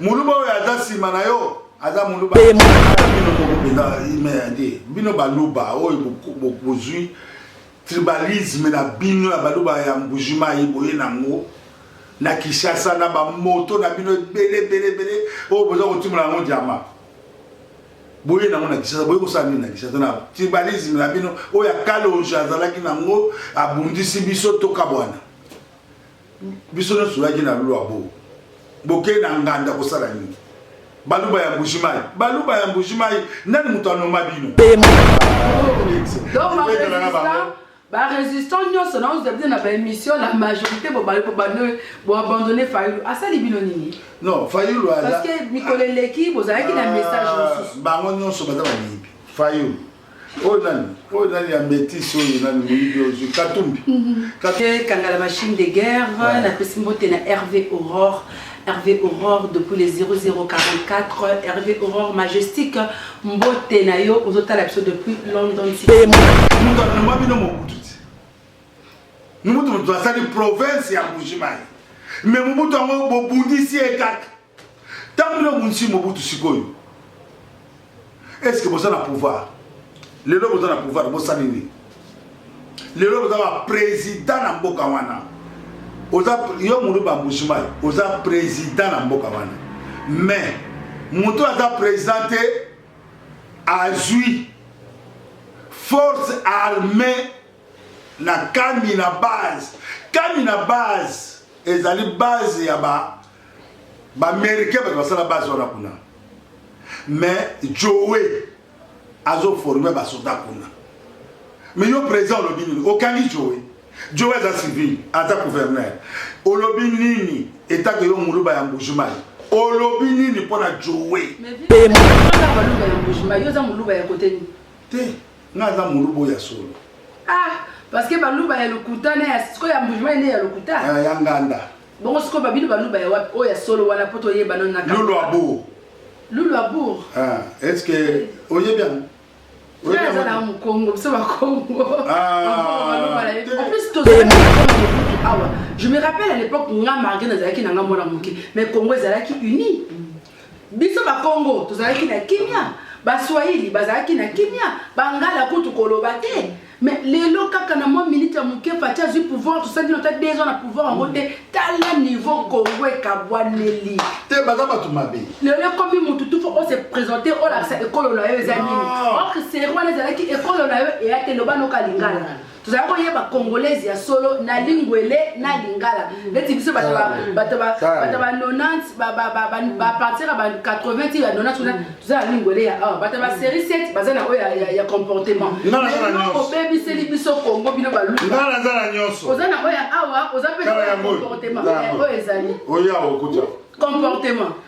muluba oyo aza nsima na yo aza muluba bino moko mpenza imeyade bino baluba oyo bozwi tribalisme na bino ya baluba ya mbujimayi boye nango na kinshasa na bamoto na bino ebele ebele ebele oyo boza kotimola yango diama boye nango na kisasa boye kosala nini na kisasa na tribalisme na bino oyo akalonge azalaki nango abundisi biso tokabwana biso nionso toyaki na lua bo bokei na nganda kosala nini baluba ya mbujimayi baluba ya mbujimayi nani moto anoma bino barésistant nyonso na ozabide na baémission la majorité boabandonne fayulu asali bino nini non fayulu parce que mikolo eleki bozalaki na message mosusu bango nyonso baza bamiyibi fayulu oyo nani oyo nani ya metise oyo nani moyibi ozwi katumbi mhm. kangala machine de guerre napesi mbote na rv aurore rv aurore depuis le 0044 rv aurore majestique mbote na yo ozotala biso depuis london moto amema bino mobutu ti mobutu moto asali province ya mbujimayi me mobutu yango bobundisi ye kaka Ntango bino bobundisi Mobutu sikoyo, eske boza na pouvoir? Lelo boza na pouvoir, bosali nini? Lelo boza ba president na mboka wana, oza yo mulu bambushimai, oza president na mboka wana, mais moto aza president te azwi force armée na kami na base kami na base ezali base ya ba B'americain bato basala base wana kuna mais joe azo forme basoda kuna mais yo président olobi nini okangi joe joe aza civil aza gouverneur olobi nini etake yo muluba ya mbujimai olobi nini mpo na joe te nga aza muluba oyo ya solo ah, parce que baluba ya lokuta na ya sikoyo ya mbujimai nde ya lokuta ah, ya nganda Bongo sikoyo ba bino baluba ya wapi oyo ya solo wana mpo toyeba nano na Lulu Abour. Lulu Abour. Ah, est ce que oyebi yango? Oyebi yango na Mukongo, biso ba Kongo. Ah. En plus to awa. Je me rappelle à l'époque nga Margaret nazalaki na nga mwana moke, mais Kongo ezalaki uni. Biso Bakongo tozalaki na kimia, Baswahili bazalaki na kimia, Bangala kutu koloba te. Mais lelo kaka na mwa minute ya moke Fatshi azwi pouvoir, tosalaki na ta deux ans na pouvoir yango te. Tala niveau Congo ekabwaneli. Te baza bato mabe. Lelo ekomi moto tout faut ose presenter olakisa ekolo na yo eza nini. Or Serwana ezalaki ekolo na yo eya te loba noka lingala. tozali koyeba congolaise ya solo na lingwele na lingala neti biso bato ba 90 bapartira ba 80 ti ya 90 kuna toza na lingwele ya awa bato ba série 7 baza na oyo ya comportement obebiseli biso congo bino baluoza na oyo ya awa oza mpe na oyo ya comportement oyo ezali comportement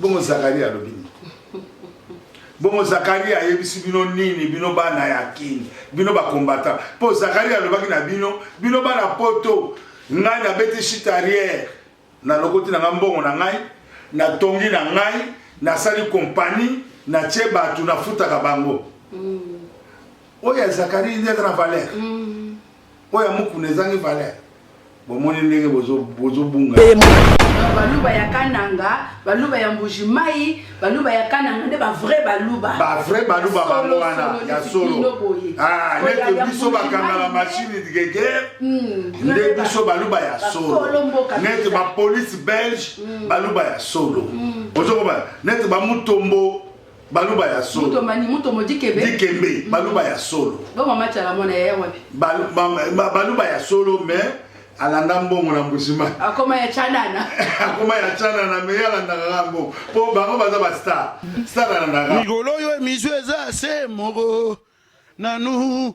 Bongo Zakaria alobi nini? Bongo Zakaria ayebisi bino nini? Bino bana ya Kin, bino bakombata. Mpo Zakaria alobaki na bino, bino bana poto, ngai nabeti chitariere, nalokoti na ngai mbongo na ngai, natongi na ngai, nasali kompani, natie bato, nafutaka bango. Mm. Oyo ya Zakaria nde aza na valere. Mm. Oyo ya mukuna ezangi valeur. Bomoni ndenge bozo bozo bunga. Baluba ya Kananga, baluba ya Mbuji Mai, baluba ya Kananga nde ba vrai baluba. Ba vrai baluba bango wana ya solo. Ah, nete biso bakanga la machine de guerre. Hmm, nde biso baluba ya solo. Nete ba police belge hmm. baluba ya solo. Hmm. Ozo ko ba nete ba mutombo baluba ya solo moto mani moto mo dikembe dikembe mm. baluba ya solo ba mama chala mwana ya wapi baluba ya solo mais alanda mbongo na mbusima akoma ya chanana akoma ya chanana mais alandaka ka mbongo mpo bango baza ba star star alandaka mikolo oyo emission eza se moko nanu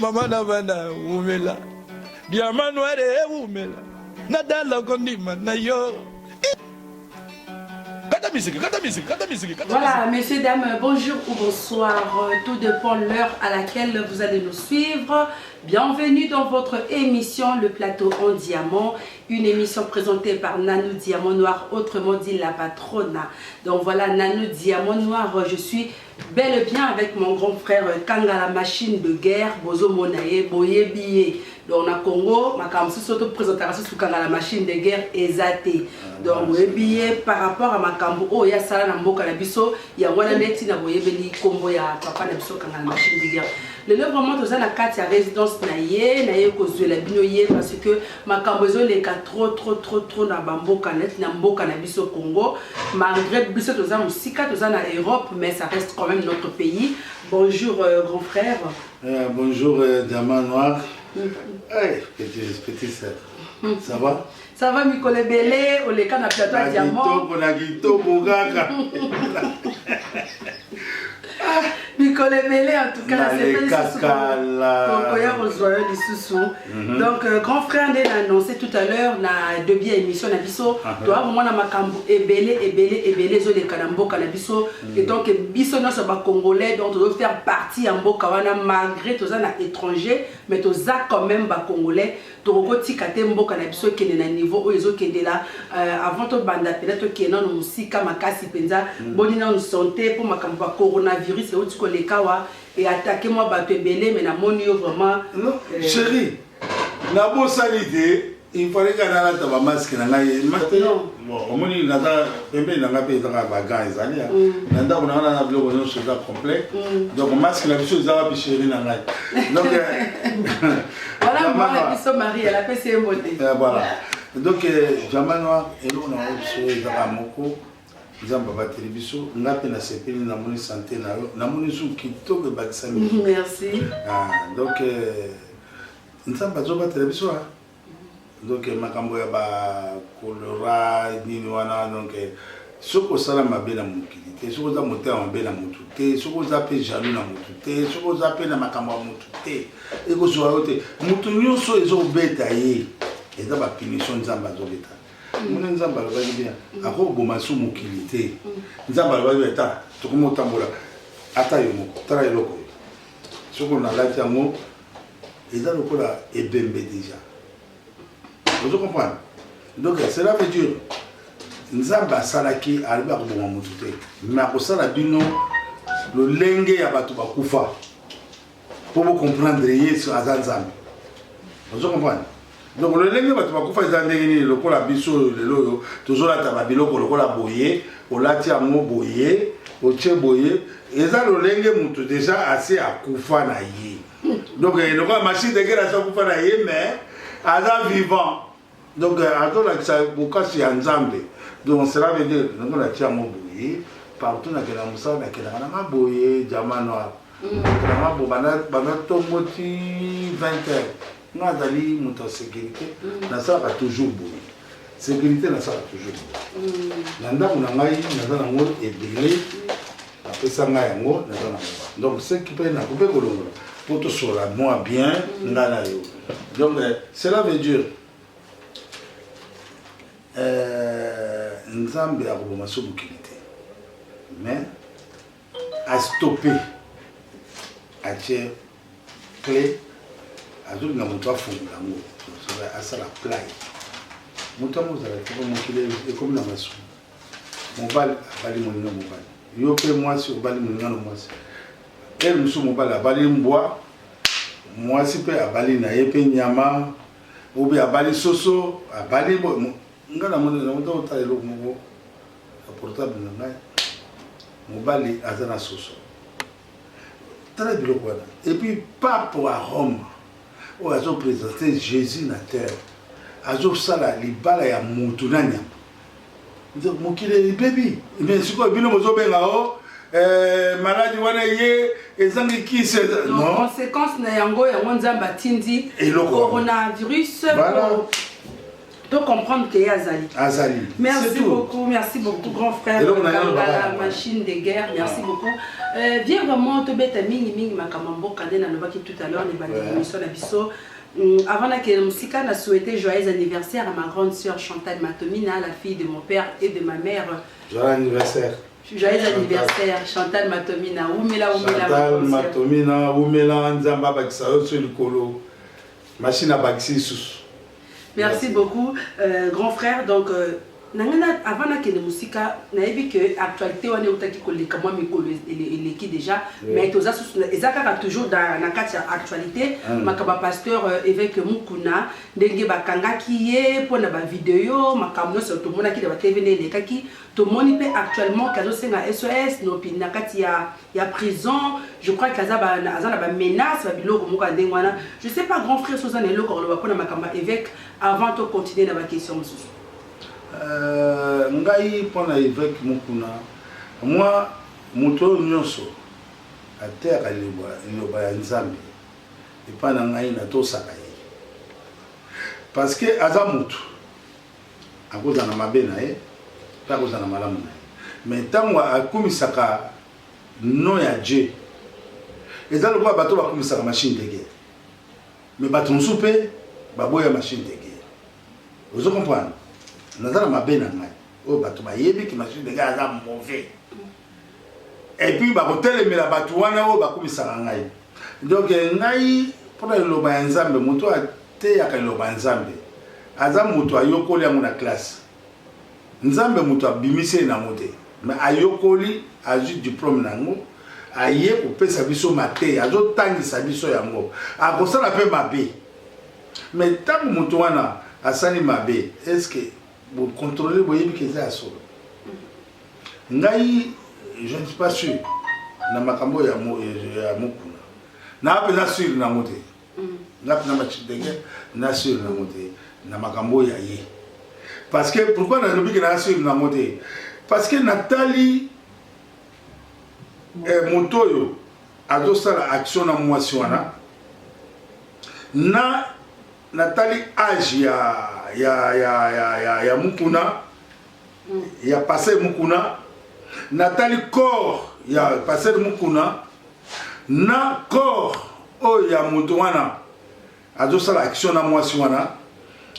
mama na bana wumela diama noire ewumela nadala kondima na yo kata miziki kata miziki kata miziki kata voilà messieurs dames bonjour ou bonsoir euh, tout dépend l'heure à laquelle vous allez nous suivre bienvenue dans votre émission le plateau en diamant Une emission presentee par Nanou Diamant Noir, autrement dit la patrona. Donc voilà, Nanou Diamant Noir, je suis bel et bien avec mon grand frère Kanga la machine de guerre, Bozo Monaye, Boye Biye. Donc na Congo, ma kamsu soto présentera sous Kanga la machine de guerre ezate. Donc Boye Biye par rapport à ma kambu oh ya sala na mboka na biso, ya wana neti na Boye Beli combo ya papa na biso Kanga la machine de guerre. lelo vraiment toza na kati ya résidence na ye na ye kozwela bino ye parce que Makambo ezo leka trop trop trop trop na ba mboka neti na mboka na biso Congo malgre biso toza musika toza na Europe mais ça reste quand meme notre pays bonjour euh, grand frère euh, bonjour euh, diamant noir mm -hmm. hey, petit, petit sœur mm -hmm. ça va ça va mikolo ebele oleka na plateau ya diamant na kitoko kaka mikolo ebele en tout cas nasepelisikokoya kozwa yo lisusu mhm. donc euh, grand frère nde na annonce tout à l'heure na debi ya émission na biso ah, toya komona makambo ebele ebele ebele ezoleka na mboka na biso mhm. et donc biso nyonso bacongolais donc tozo faire partie ya mboka wana malgré toza na étranger mais toza quand même bacongolais Toko tika te mboka na biso ekende na niveau oyo ezo kende la avant to banda pena to kende nanu musika makasi penza boni nanu sante po makambo ba corona virus ewuti ko leka awa e attaque mwa batu ebele mais na moni yo vraiment Non cherie na bosani te il fallait nga na lata ba masque na ngai masque non bon omoni na za pembe na ngai pe eza ka ba gants ezali ya na ndako na nga na biloko nionso eza complet donc masque na biso eza wapi cherie na ngai donc Voilà, moi, la biso Marie, elle a fait ses mots. Euh, voilà. Donc, euh, Jamanoa, et nous, on a reçu dans la Moko. nzambe abateli biso nga mpe nasepeli namoni sante na yo namoni su kitoko ebakisa mingi merci ah, donc euh, nzambe azobatela biso a ah. Donc makambo ya ba cholera nini wana donc soki osala mabe na mokili te soki oza motema mabe na motu te soki oza mpe jaloux na motu te soki oza mpe na makambo ya motu te ekozwa yo te motu nyonso ezobeta ye eza bapunition nzambe azobeta mona nzambe alobaki bien akoboma su mokili te nzambe alobaki bien ta tokomi otambola ata yo moko tala eloko soki onalaki yango eza lokola ebembe deja ozo comprendre donc cela veut dire nzambe asalaki alibi akoboma motu te me akosala bino lolenge ya bato bakufa mpo bocomprendre yesu aza nzambe ozo comprendre donc lolenge bato bakufa eza ndenge nini lokola biso oyo lelo oyo tozolata babiloko lokola boye olati yango boye otie boye eza lolenge moto deja asi akufa na ye donc eh, lokola machine dekele asi akufa na ye mais aza vivant donc eh, azolakisa bokasi ya nzambe donc cela veut dire ndenge natie yango boye partout nakenda mosala nakelaka nanga boye diamant noir vraiment bo banda banda tongo ti 20 heures nga azali moto ya sécurité mm. nasalaka toujours boye sécurité nasalaka toujours boye mm. na ndako na ngai naza nango ebele mm. apesa ngai yango naza nango donc seki mpe nako mpe kolongola mpo tosola mwa bien nga na yo donc euh, cela veut dire euh, nzambe akoboma so mokili te mais A stopper a tie cle azo linga moto afongola yango asala play moto yango ozala kaka mokili ekomi na masumu mobali abali moninga mobali yo mpe mwasi obali moninga na mwasi ele mosusu mobali abali mbwa mwasi mpe abali na ye mpe nyama obe abali soso abali nga na moni na motala eloko moko na portable na ngai mobali aza na soso tala biloko wana epuis pape wa rome oyo azopresente jésus na terre azosala libala ya mutu na nyama mokili ebebi me sikoyo bino bozobenga o oh, eh, maladi wana ye ezangi kisi conséquence na yango yango nzambe atindi coronavirus To comprendre que ye azali. Azali. Merci beaucoup, merci beaucoup grand frère. Eloko na yalo baba. Machine de guerre, merci ah. beaucoup. Euh, bien vraiment to beta mingi mingi makama mboka nde nalobaki tout à l'heure les bande émission na biso. Mm, avant na kele musika na souhaiter joyeux anniversaire à ma grande sœur Chantal Matomina, la fille de mon père et de ma mère. Joyeux anniversaire. Joyeux anniversaire Chantal Matomina. Oumela oumela. Chantal Matomina, oumela nzamba bakisa yo sur likolo. Machine abakisi lisusu. Merci beaucoup euh, grand frère donc euh, na ngai na- avant nakende mosika nayebi ke actualité wana eutaki koleka mwa mikolo e- ele- eleki déjà Oui. mais toza susu na- eza kaka toujours na na kati ya actualité Mm. makambo ya pasteur euh, évêque mukuna ndenge bakangaki ye mpo na bavideo makambo nyonso tomonaki na batv nde elekaki tomoni mpe actuellement ke azosenga sos nopi na kati ya ya prison je crois que aza ba aza na ba menaces ba biloko moko ndenge wana je sais pas grand frère soza na eloko koloba pona makamba évêque avant to continuer na ba questions mosusu euh ngai pona évêque mukuna moi moto oyo nyonso ateyaka liloba ya nzambe epai na ngai natosaka ye parce que aza motu Akozala na mabe na ye pe akozala na malamu na ye mais tangu akumisaka nom ya Dieu eza lokola bato bakumisaka machine de guerre mais bato mosusu pe baboya machine de guerre ozo comprendre naza na mabe na ngai oyo bato bayebi ki machine de guerre aza mauvais et puis bakotelemela bato wana oyo bakumisaka ngai donc eh, ngai mpona liloba ya nzambe moto oyo ateyaka liloba ya nzambe aza moto ayokoli yango na classe nzambe moto abimisi ye nango te me ayokoli azwi diplome na yango aye kopesa biso mateya azotangisa biso yango akosala mpe mabe me ntango moto wana asali mabe eske Bo contrôler boyebi ke eza ya solo. Ngai je ne suis pas sûr na makambo ya mo ya mokuna. Na pe na sûr na ngote. Na pe na machidege na sûr na ngote na makambo ya ye. Parce que pourquoi na lobi ke na sûr na ngote? Parce que natali eh, moto oyo azosala action na mwasi wana na Natali age ya ya ya ya ya, ya mukuna mm. ya passer mukuna natali corps ya passer mukuna na corps oyo ya moto wana azosala action na mwasi wana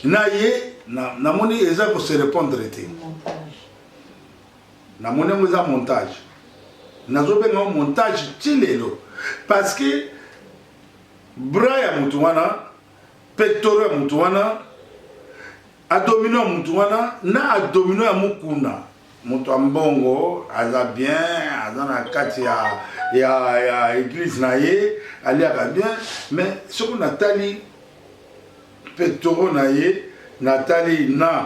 na ye namoni na eza kose répondre te namoni yango eza montage nazobenga yango montage ti lelo parce que bras ya mutu wana pectoraux ya mutu wana adomino ya mutu wana na adomino ya mukuna moto ya mbongo aza bien aza na kati ya, ya, ya eglise na ye aliaka bien mais soki natali pectoro na ye natali na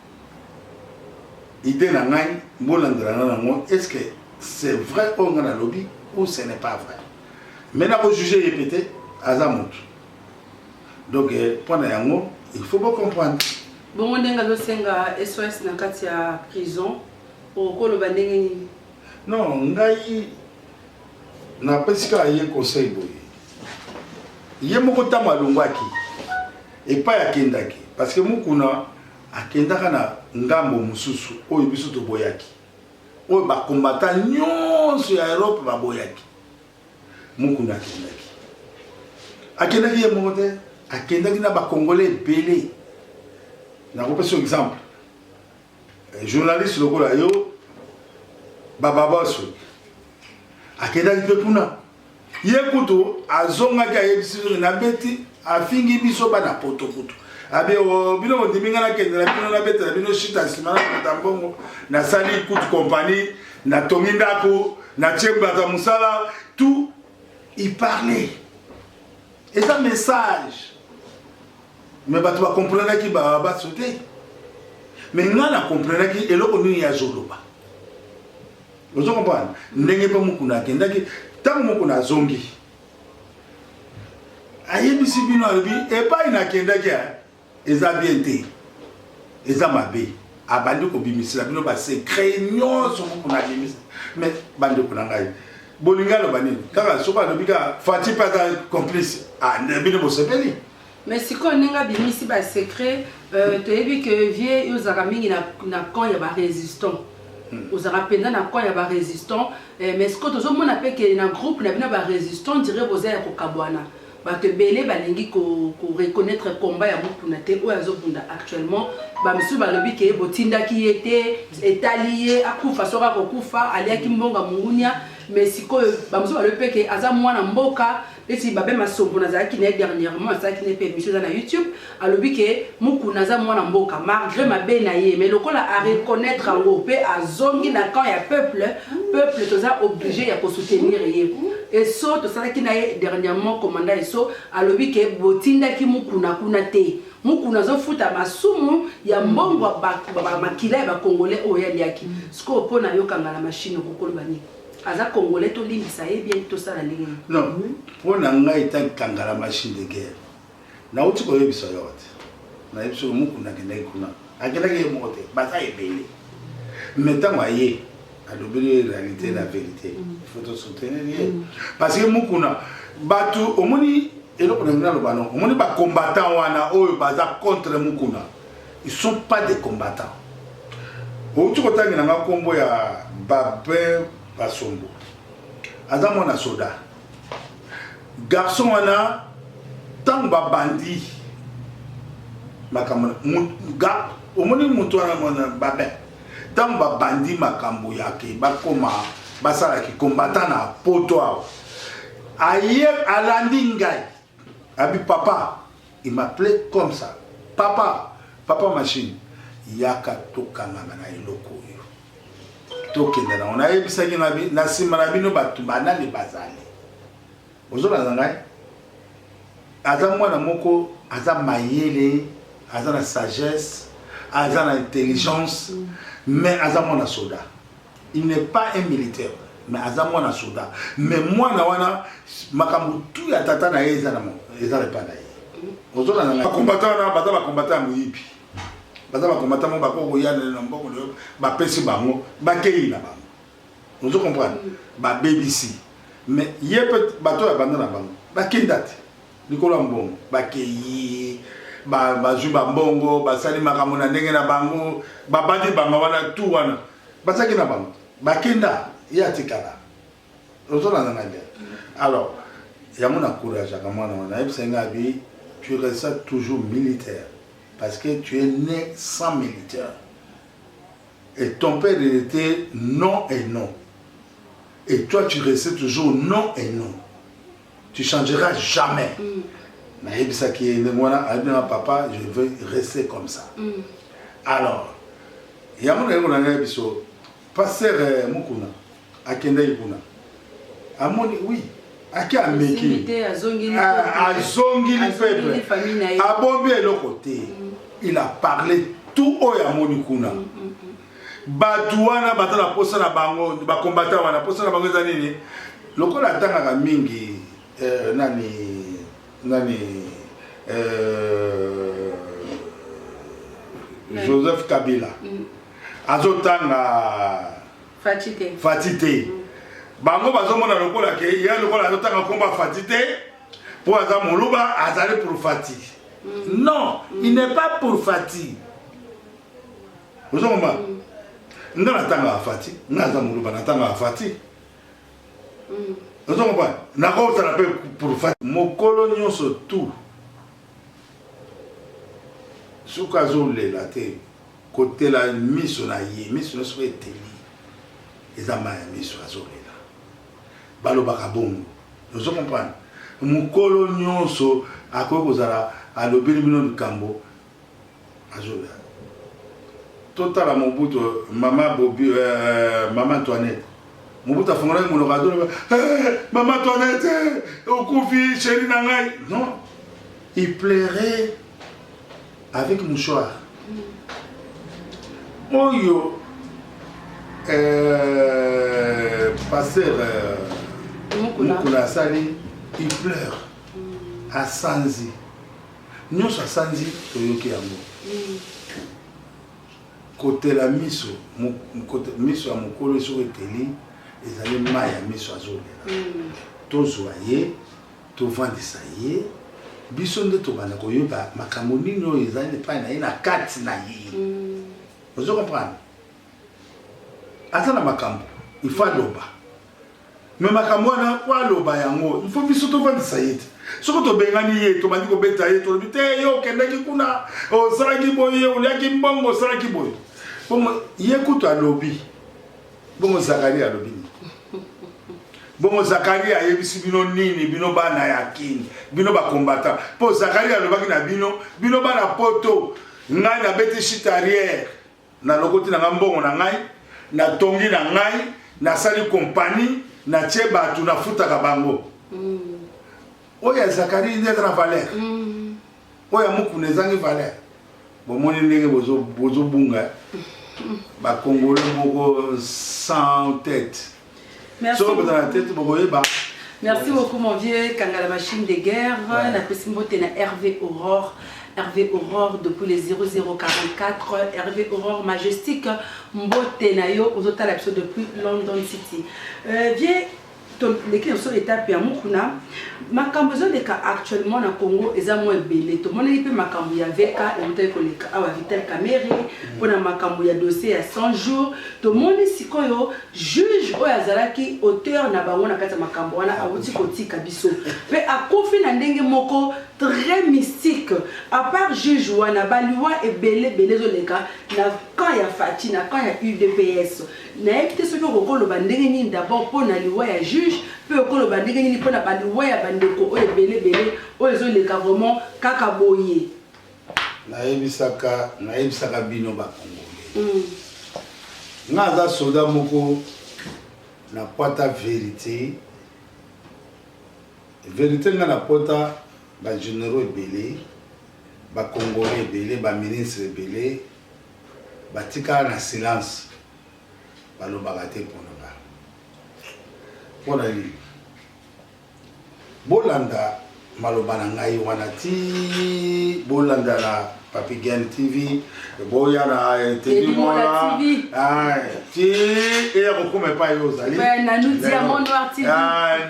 idee na ngai bolandelana nango est ce que c'est vrai oyo ngai nalobi ou ce n'est pas vrai mais nakojuge ye pe te aza motu donc eh, mpo na yango il faut bocomprendre bongo ndenge azosenga sos na kati ya prison okoloba ndenge nini non ngai napesi kaka ye conseil boye ye moko ntango alongwaki epai akendaki parce que mokuna Akendaka na ngambo mosusu oyo biso toboyaki, oyo ba combattants nyonso ya Europe baboyaki. Mukuna akendaki, akendaki ye moko te, akendaki na ba Congolais ebele. Nakopesa yo exemple, journaliste lokola yo, Bababoss akendaki mpe kuna. Ye kutu azongaki ayebisi biso nabeti afingi biso bana poto kutu abi oh, bino bondimi ngai nakende na bino nabetela bino shita nsima nakuta mbongo nasali kutu kompani natongi ndako natie bato ya mosala tout il parlait eza message me bato bakomprenaki babaso te me ngai nakomprenaki eloko nini yazoloba ozo comprendre ndenge mpe mukuna akendaki ntango mukuna azongi ayebisi bino alobi epai nakendaki eza bien te eza mabe abandi kobimisela bino basekret nyonso mukuna abimisa me bandeko na ngai bolingi aloba nini kaka soki alobi kaka fati mpe aza complice ah, bino bosepeli Mais sikoyo ndenge abimisi ba secret euh, toyebi que vie yo ozalaka mingi na, na camp ya ba résistant hmm. ozalaka mpenza na camp ya ba résistant eh, mais sikoyo tozomona mpe ke na groupe na bino ba résistant dire boza ya kokabwana bato ebele balingi koreconnaitre ko combat ya mokuna te oyo azobunda actuellement bamosusu balobi ke botindaki ye te etali ye akufa soki akokufa aliaki mbongo ya mongunia mais sikoyo bamosusu balobi mpe ke aza mwana mboka neti babe masombo nazalaki na ye dernièrement asalaki na ye mpe émission eza na youtube alobi ke mukuna aza mwana mboka malgré mabe na ye mais lokola a reconnaître yango mpe azongi na camp ya peuple peuple toza oblige ya kosoutenir ye eso tosalaki na ye dernièrement commanda eso alobi ke botindaki mukuna kuna te mukuna azofuta masumu ya mbongo makila ya bacongolais oyo aliaki sikoyo mpo na yo kangala mashine okokoloba nini aza congolais tolimbisa ye bien tosala ndenge nini non hmm? mpo na ngai etangi kangala machine de guerre nauti koyebisa yo te nayebi soki mokunda akendaki kuna akendaki ye moko te baza ebele me ntango aye alobeli ye réalité la hmm. vérité hmm. faut tosoutenir ye parce que mokuna bato omoni eloko na ngai naloba no omoni bacombattant wana oyo baza contre mokuna Ils sont pas des combattants. Outi kotangela nga kombo ya Babin Basombo. Aza mwana soda. Garçon wana tango babandi makambo ga omoni moto wana mwana Babin tango babandi makambo yake bakoma basalaki combattant na poto awa aye alandi ngai Abi papa il m'appelait comme ça papa papa machine yaka tokangana na eloko oyo tokende nango nayebisaki na nsima na bino bato banani bazali ozolanda ngai aza mwana moko aza mayele aza na sagesse aza na intelligence mais aza mwana soda Il n'est pas un militaire, mais aza mwana soda. Mais mwana wana makambo tout ya tata na ye eza na eza epa na ye. Ozona na ba combattant wana baza ba combattant ya moyibi. Baza ba combattant mo bako koya na mboko leo ba pesi bango ba keyi na bango. Ozo comprendre? Ba bebisi. Mais ye peut bato ya banda na bango. Ba kindate. Likolo ya mbongo. Bakeyi, ba, bazwi ba mbongo, basali makambo na ndenge na bango, babandi banga wana, tout wana. Bazalaki na bango. Bakenda, ye atikala. Ozolanda ngai bien? Alors, yango na courageaka mwana wana, ayebisa ye ngai abi, tu resta toujours militaire, parce que tu es né sans militaire. Et ton père, il était non et non. Et toi, tu restais toujours non et non. tu changeras jamais mm. nayebisaki ye ndenge wana ayebi na papa je veux rester comme ça mm. alors yango naye kona ngai biso pasteur euh, mukuna akendaki kuna amoni oui ake ameki azongili ah, peuple abombi eloko te mm. il a parlé tout oyo amoni kuna mm, mm, bato wana baza na mposa na bango bakombata wana mposa na bango eza nini lokola atangaka mingi euh, nani nani euh, joseph kabila mm. azotanga fati te, fati te. Mm. bango bazomona lokola ke ye lokola azotanga nkomba fati te mpo aza moluba azali pour fati mm. non mm. il n'est pas pour fati ozo ngoma mm. nga natanga afati nga aza muluba natanga afati mm. ozo ngoma nakotala mpe pour fati mokolo nyonso tout soki azolela te kotela miso na ye miso na soki eteli eza mai ya miso azolela balobaka bongo ozo comprendre mokolo nyonso akoki kozala alobeli bino likambo Azola. Totala Mobutu, mama Bobi, euh, mama Antoinette. Mobutu afongolaki monoko azoloba, hey, eh, mama Antoinette, eh, okufi chérie na ngai. Non, il plairait avec mouchoir. Oyo euh, pasteur euh, Mukula asali, il pleure. Mm. Asanzi. Nionso asanzi toyoki yango. Kotela miso, miso ya mokolo soki eteli ezali mayi ya miso azolela. Tozwa ye, tovandisa ye, biso nde tobanda koyeba makambo nini oyo ezali epai na ye na kati na ye. Ozo comprendre? Aza na makambo, il faut aloba. Mais makambo wana po aloba yango il faut biso tovandisa ye te soki tobengani ye tobandi kobeta ye tolobi te ye okendaki kuna osalaki boye oliaki mbongo osalaki boye bongo ye kutu alobi bongo zakaria alobi nini bongo zakaria ayebisi bino nini bino bana ya kini bino bakombata mpo zakaria alobaki na bino bino bana poto ngai nabeti chitariere nalokoti na ngai mbongo na ngai natongi na ngai nasali kompani natie bato nafutaka bango mm. oyo ya zakari nde eza na valeur mm. oyo ya mokuna ezangi valeur bomoni ndenge bozobunga bakongole moko sans tete Merci. Solo boza na tete bokoyeba. Merci beaucoup mon vieux Kangala machine de guerre ouais. na pesi mbote na Hervé Aurore Hervé Aurore depuis les 0044 Hervé Aurore majestique mbote na yo ozotala biso depuis London City euh, vieux toleki biso etape ya mokuna makambo ezoleka actuellement na congo eza mwa ebele tomonaki mpe makambo ya vk eutaki koleka awa vital camere mpona makambo ya dossier ya 100 jours tomoni sikoyo Juge oyo azalaki auteur na bango na kati ya makambo wana awuti kotika biso mpe akufi na ndenge moko très mystique. A part juge wana, ba liwa ebele ebele ezo leka na camp ya Fatshi, na camp ya udps. Nayebi te soki okoki oloba ndenge nini d'abord mpo na liwa ya juge mpe okoki oloba ndenge nini mpo na ba liwa ya ba ndeko oyo ebele ebele oyo ezo leka vraiment kaka boye. nayebisaka nayebisaka bino ba congolais mm. nga aza soda moko na pota verité verité nga na pota ba généraux ebele ba congolais ebele ba ministre ebele batikala na silence balobaka te mpona ba mpona nini Bolanda maloba na ngai wana ti bolanda na Papi Gen TV boya na Teddy Mola ti eya kokoma epai yo ozali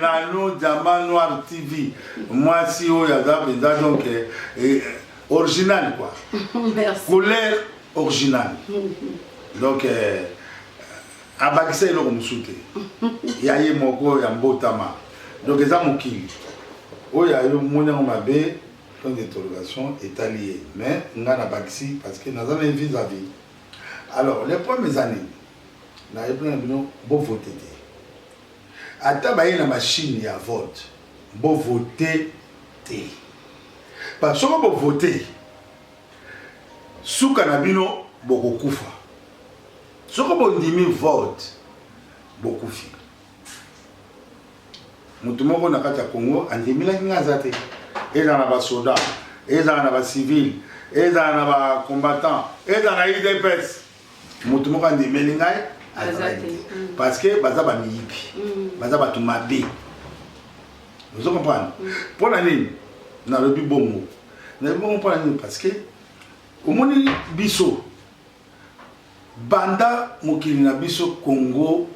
Nanou Diamant Noir TV mwasi oyo aza mpenza donc eh, original quoi couleur original donc eh, abakisa eloko mosusu te ya ye moko ya mbotama donc eza mokili oyo ayo moni yango mabe point d'interrogation etali ye mais ngai nabakisi parce que naza na ye vis à vis alors le problème eza nini nayebina na bino bovote te ata baye na machine ya vote bovote te ba soko bovote suka na bino bokokufa Soki bondimi vote bokufi. Mutu moko na kati ya Congo andimelaki nga aza te. Ezala na ba soda, ezala na ba civil, ezala na ba combattant, ezala na IDPS. Mutu moko andimeli ngai azalaki te. Mm. Parce que baza ba miyibi. Mm. Baza batu mabe. Vous comprenez? Mm. Pona nini? Nalobi bongo. Nalobi bongo pona nini? Parce que omoni biso Banda mokili na biso Congo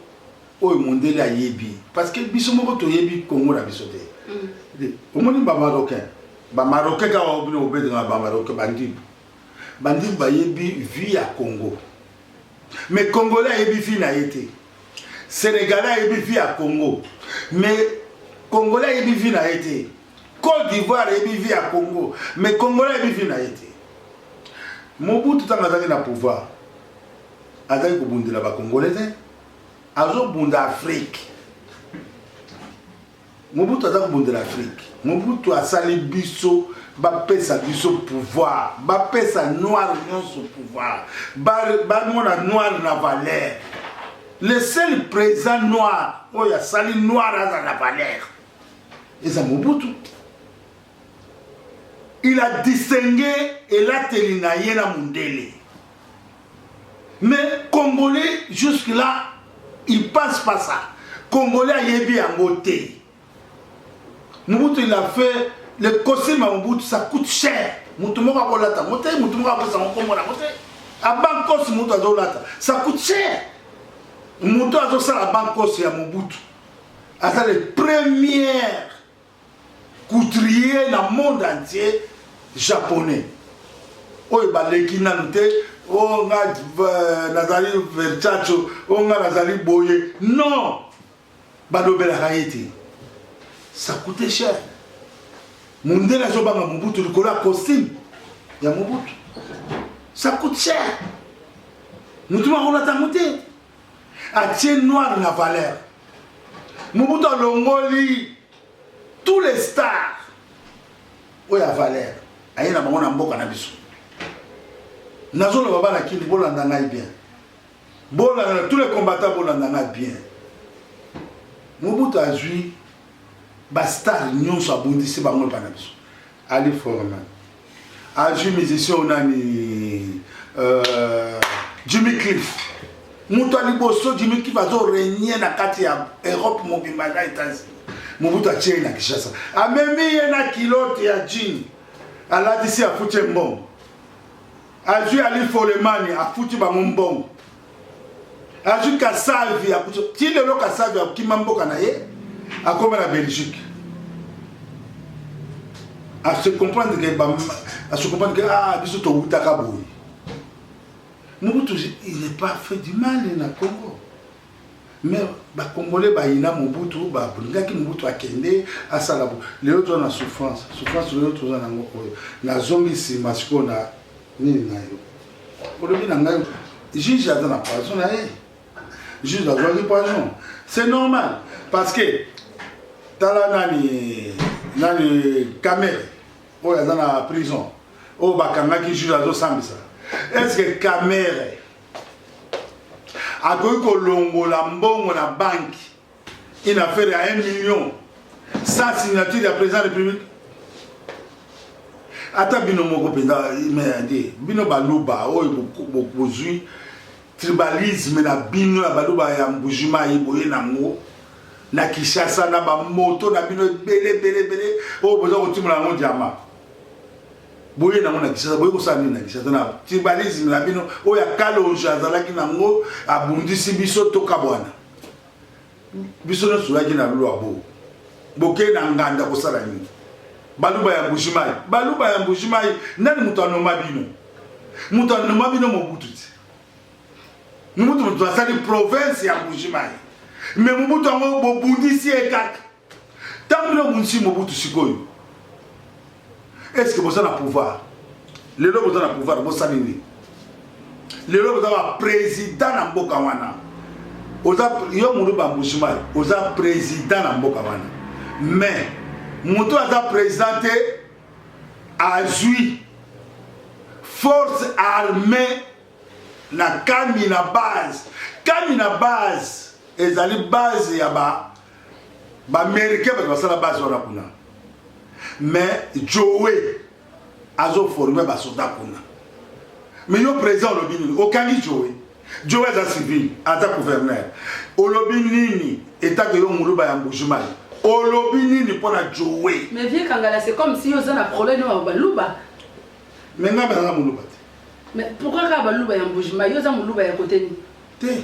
oyo mondele ayebi parce que biso moko toyebi Congo na biso te omoni ba marocain ba marocain kaka oyo bino bobetaka ba marocain bandibu bandibu bayebi vie ya Congo mais congolais ayebi vie na ye te sénégalais ayebi vie ya Congo mais congolais ayebi vie na ye te Cote d'Ivoire ayebi vie ya Congo, mais Congolais ayebi vie na ye te. Mobutu ntango azalaki na pouvoir, azalaki kobundela ba Congolais te, azobunda Afrique. Mobutu aza kobundela Afrique. Mobutu asali biso bapesa biso pouvoir, bapesa noir nyonso pouvoir, bamona ba noir na valeur. Le seul président noir oyo asali noir aza na valeur. eza mobutu il a distingue elateli na ye na mondele mais congolais jusque là il passe pas ça congolais ayebi yango te mobutu il a fait le costume ya mobutu ça coûte cher moto moko akolata yango te moto moko apesa yango nkombo na yango te abankos moto azolata ça coûte cher moto azosala bankoso ya mobutu aza le première couturier na monde entier japonais oyo baleki nanu te o oh, nga euh, nazali verchacho o oh, nga nazali boye non balobelaka ye te ça coûte cher mondele azobanga mobutu likolo ya costume ya mobutu ça coûte cher motu makolata mote atie noir na valeur mobutu alongoli tous les stars oyo ya valeur aye na bango na mboka na biso nazoloba bana kini bolanda ngai bien bolanda tous les combattants bolanda ngai bien mobutu azwi bastar nyonso abundisi bango epa na biso ali forman Azwi musicien oyo nani euh, Jimmy Cliff moto ya liboso Jimmy Cliff azo regne na kati ya Europe mobimba na Etats-Unis Mobutu atie ye na Kinshasa amemi ye na kilote ya jean alatisi afuti ye mbongo azwi ali folemani afuti bango mbongo azwi kasavi ti lelo kasavi akima mboka na ye akoma na belgique ase comprendre ke ase comprendre ke ah biso towutaka boye mobutu il n'est pas fait du mal na congo Mais ba congolais ba yina Mobutu ba brindaki Mobutu akende asala bo lelo toza na souffrance souffrance lelo toza na ngo oyo na zongi sima siko na nini na yo olobi na ngai juge aza na poison na ye juge azwaki poison c'est normal parce que tala nani nani kamere oyo aza na prison oyo bakangaki juge azosambisa est ce que kamere akoki kolongola mbongo na banki une affaire ya 1 million sans signature ya président république ata bino moko mpenza merde bino baluba oyo bozwi tribalisme na bino ya baluba ya mbujimayi boye nango na kinshasa na bamoto na bino ebele ebele ebele oyo boza kotimola yango diama boye nango na Kinshasa boye kosala nini na Kinshasa na tribalisme na bino oyo ya Kalonji azalaki nango abundisi biso tokabwana biso nyonso toyaki na lulwa bo bokei na nganda kosala nini baluba ya mbujimai baluba ya mbujimai nani moto anoma bino moto anoma bino mobutu ti mobutu moto asali province ya mbujimai me mobutu yango bobundisi ye kaka Ntango bino bobundisi Mobutu sikoyo, eske boza na pouvoir? Lelo boza na pouvoir, bosali nini? Lelo boza ba president na mboka wana, oza yo mulu bambujimayi, oza president na mboka wana, mais moto aza president te azwi force armée na kami na base kami na base ezali base ya ba Ba Americains bato basala base wana kuna. Mais Joe azo former ba soda kuna. Mais yo président olobi nini? Okangi Joe. Joe aza civil, aza gouverneur. Olobi nini? Etake yo muluba ya Mbujimai. Olobi nini mpo na Joe? Mais vieux Kangala, c'est comme si oza na problème na baluba. Mais nga bana muluba te. Mais pourquoi ka baluba ya Mbujimai? Yo oza muluba ya kote nini? Te.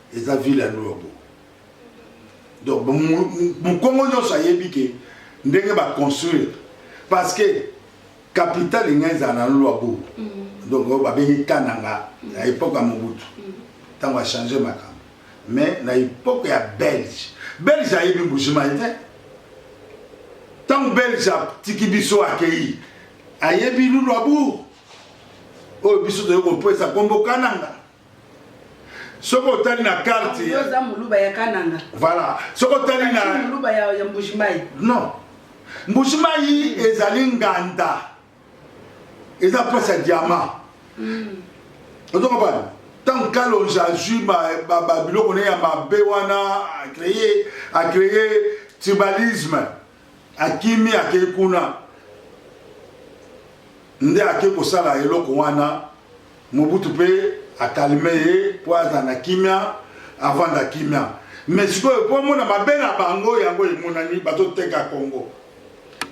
eza ville ya luobo donc mukongo nyonso ayebi ke ndenge ba construire parce que capital inga ezala na luobo mm. donc oyo babengi kananga na epoque ya mobutu ntango mm. achange makambo mais na epoque ya belge belge ayebi mbujimai te ntango belge atiki biso akei ayebi lulu abour oyo biso toyei kopesa nkombo kananga soki otali na carte oza muluba ya kananga voilà soki otali na muluba ya, ya mbujimayi non mbujimayi ezali nganda eza place ya diamant mm. ozo comprendre ntango kalonge azwi babiloko na ye ya mabe wana acreye acreye tribalisme Akimi akei kuna nde ake kosala eloko wana mobutu mpe akalme ye mpo azala na kimia avanda kimia me sikoyo mpo amona mabe na bango yango emonani bazoteka kongo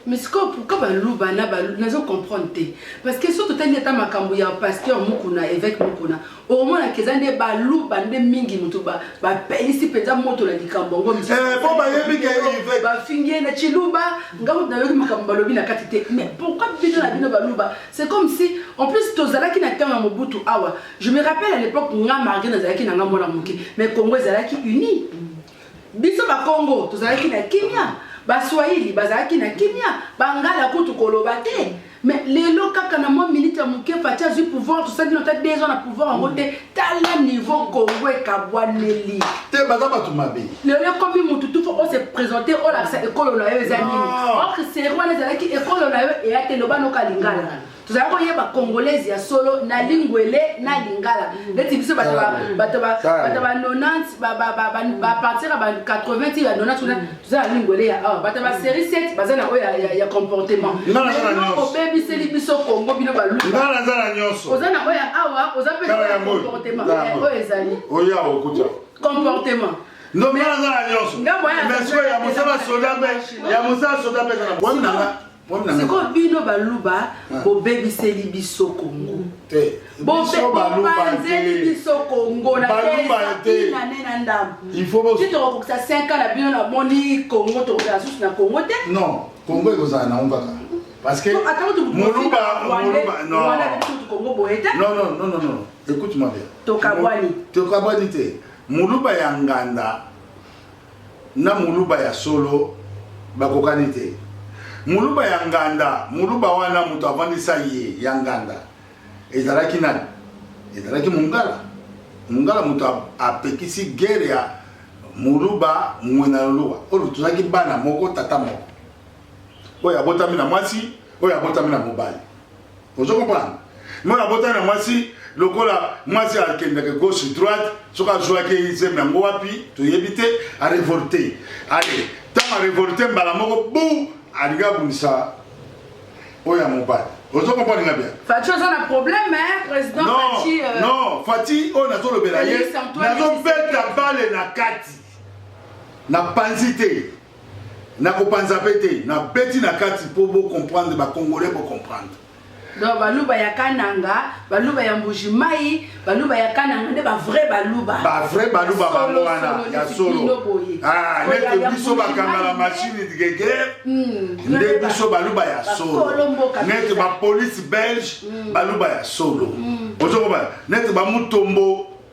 mais sikoyo pourkui baluba na nazo comprendre te parce que so totali ata makambo ya pasteur mukuna évêque mukuna Omona keza nde baluba nde mingi mutu ba bapelisi mpenza moto na likambo yango misusu. Eh, po bayebi ke yo Yvette. bafingi ye na chiluba nga kutu nayoki makambo balobi na kati te mais pourquoi bino na bino baluba c'est comme si en plus tozalaki na ntango ya mobutu awa je me rappelle à l'époque nga marge nazalaki na nga mwana moke mais congo ezalaki unie Biso Bakongo tozalaki na kimia, Baswahili bazalaki na kimia, Bangala kutu koloba te. Mais lelo kaka na mwa minute ya moke Fatshi azwi pouvoir, tosali nino ata deux ans na pouvoir yango te. Tala niveau Congo ekabwaneli. Te baza bato mabe. Lelo ekomi mutu tout faut o se presenter olakisa ekolo na yo eza nini. Or Serie wana ezalaki ekolo na yo eya te, loba noka lingala. tozali koyeba congolaise ya solo na lingwele na lingala neti biso bato ba 90 bapartira ba 80 ti ya 90 kuna toza na lingwele ya awa bato ba série 7 baza na oyo ya comportement obebiseli biso congo bino baluoza na oyo ya awa oza mpe ya comportement oyo ezali comportement ndombe aza na nyonso mais soki ya mosala soda mpe ya mosala soda mpe ezana bwami na nga sikoyo bino baluba ah. bobebiseli biso kongo mm. bopanzeli biso kongo nainane na ndamboitokokokisa 5 ans na bino namoni kongo tokokela susu na kongo te non kongo ekozala na yango kaka parce que moluba moluba non kongo boye te non non non non non écoute moi bien tokabwani tokabwani te moluba ya nganda na muluba ya solo bakokani te muluba ya nganda muluba wana moto avandisa ye ya nganda ezalaki nani ezalaki mungala mungala moto apekisi guerre ya muluba mwina loluwa oyo tozalaki bana moko tata moko oyo abotami na mwasi oyo abotami na mobali ozo comprendre mwana abotani na mwasi lokola mwasi akendaka gauche droite soki azwaki ezembe yango wapi toyebi te arevolte ale ntango arevolte mbala moko bu alingi abundisa oyo ya mobali ozo comprendre nga bien fati oza na problème hein président non, fati euh... non fati oyo nazolobela ye nazobeta bale na kati na panzi te Na kopanza pe te, na beti na kati po bo comprendre ba congolais bo comprendre. Donc baluba ya kananga, baluba ya mbuji mayi, baluba ya kananga nde ba vrai baluba. Ba vrai baluba bango wana ya solo. Ah, nete biso bakanga la machine de guerre. Hmm, nde biso baluba ya solo. Nete ba police belge hmm. baluba ya solo. Hmm. Ozo ba nete ba mutombo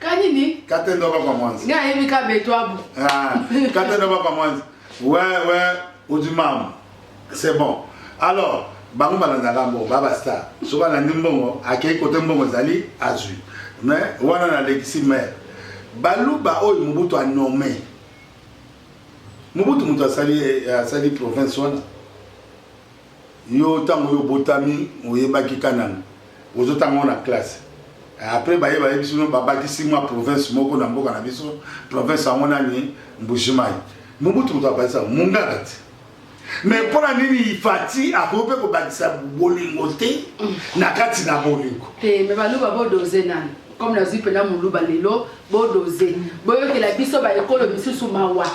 kanini kate ndoba kwa mwanzi nga yebi ka betwabu ah kate ndoba kwa mwanzi ouais ouais udimam c'est bon alors bango balandaka mbongo ba basta so balandi mbongo akei kote mbongo ezali azwi mais wana nalekisi maire baluba oyo mobutu anome mobutu moto asali asali province wana Yo tango yo obotami oyebaki kananga ozo tanga ngo na classe après baye bayebisi bino babakisi mwa province moko na mboka na biso province yango nani mbujimayi mobutu moto abakisa mungaka ti mais mpo na nini ifati akoki mpe kobakisa bolingo te na kati na bolingo te mais baluba bodose nani comme nazwi mpena moluba lelo bodose boyokela biso baekolo misusu mawa